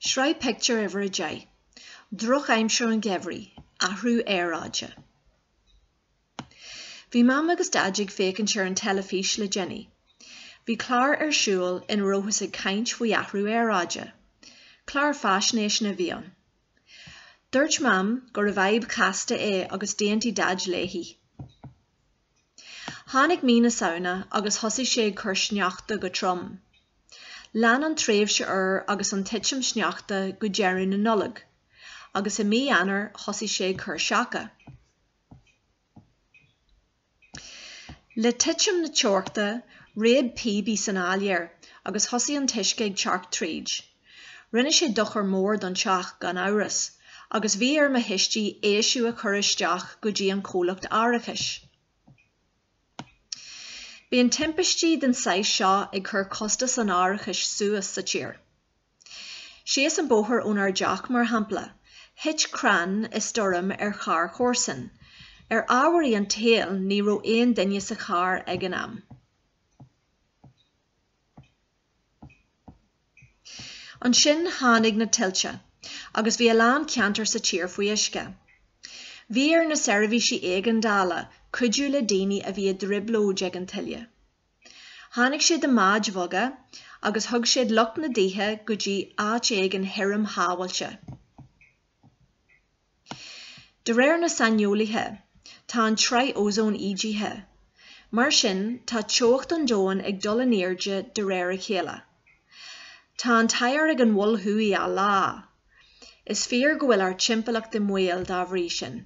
Sraith Pictiúr Uimhir a Deich. Drochaimsir an gheimhridh, athrú aeráide. Bhí Mam agus Daid ag féachaint ar an teilifís le déanaí. Bhí clár ar siúl ina rabhthas ag caint faoi athrú aeráide. Clár faisnéise a bhí ann. Dúirt Mam gurbh fhadhb chasta é agus d'aontaigh Daid léi. Tháinig mí na Samhna agus thosaigh sé ag cur sneachta go trom. Lean an tréimhse fhuar agus an titim sneachta go deireadh na Nollag, agus i mí Eanáir thosaigh sé ag cur seaca. Le titim na teochta, réab píobaí san áiléar agus thosaigh an t-uisce ag teacht tríd. Rinne sé dochar mór don teach, gan amhras, agus bhí ar mo thuistí éisiú a chur isteach go dtí an comhlacht árachais. Bíonn timpistí den saghas seo ag cur costas an árachais suas sa tír. Síos an bóthar ónár dteach, mar shampla, thit crann i stoirm ar charr chomharsan. Ar ámharaí an tsaoil, ní raibh aon duine sa charr ag an am. Ansin tháinig na tuilte agus bhí a lán ceantar sa tír faoi uisce. Bhí ar na seirbhísí éigeandála cuidiú le daoine a bhí i dtrioblóid ag an tuile. Tháinig siad i mbáid bheaga agus thug siad lucht na dtithe go dtí áit éigin thirim shábháilte. De réir na saineolaithe, tá an tsraith ózóin ídithe. Mar sin, tá teocht an domhain ag dul in airde de réir a chéile. Tá an t-oighear ag an Mhol Thuaidh á leá. Is fíor go bhfuil ár dtimpeallacht i mbaol dá bhrí sin.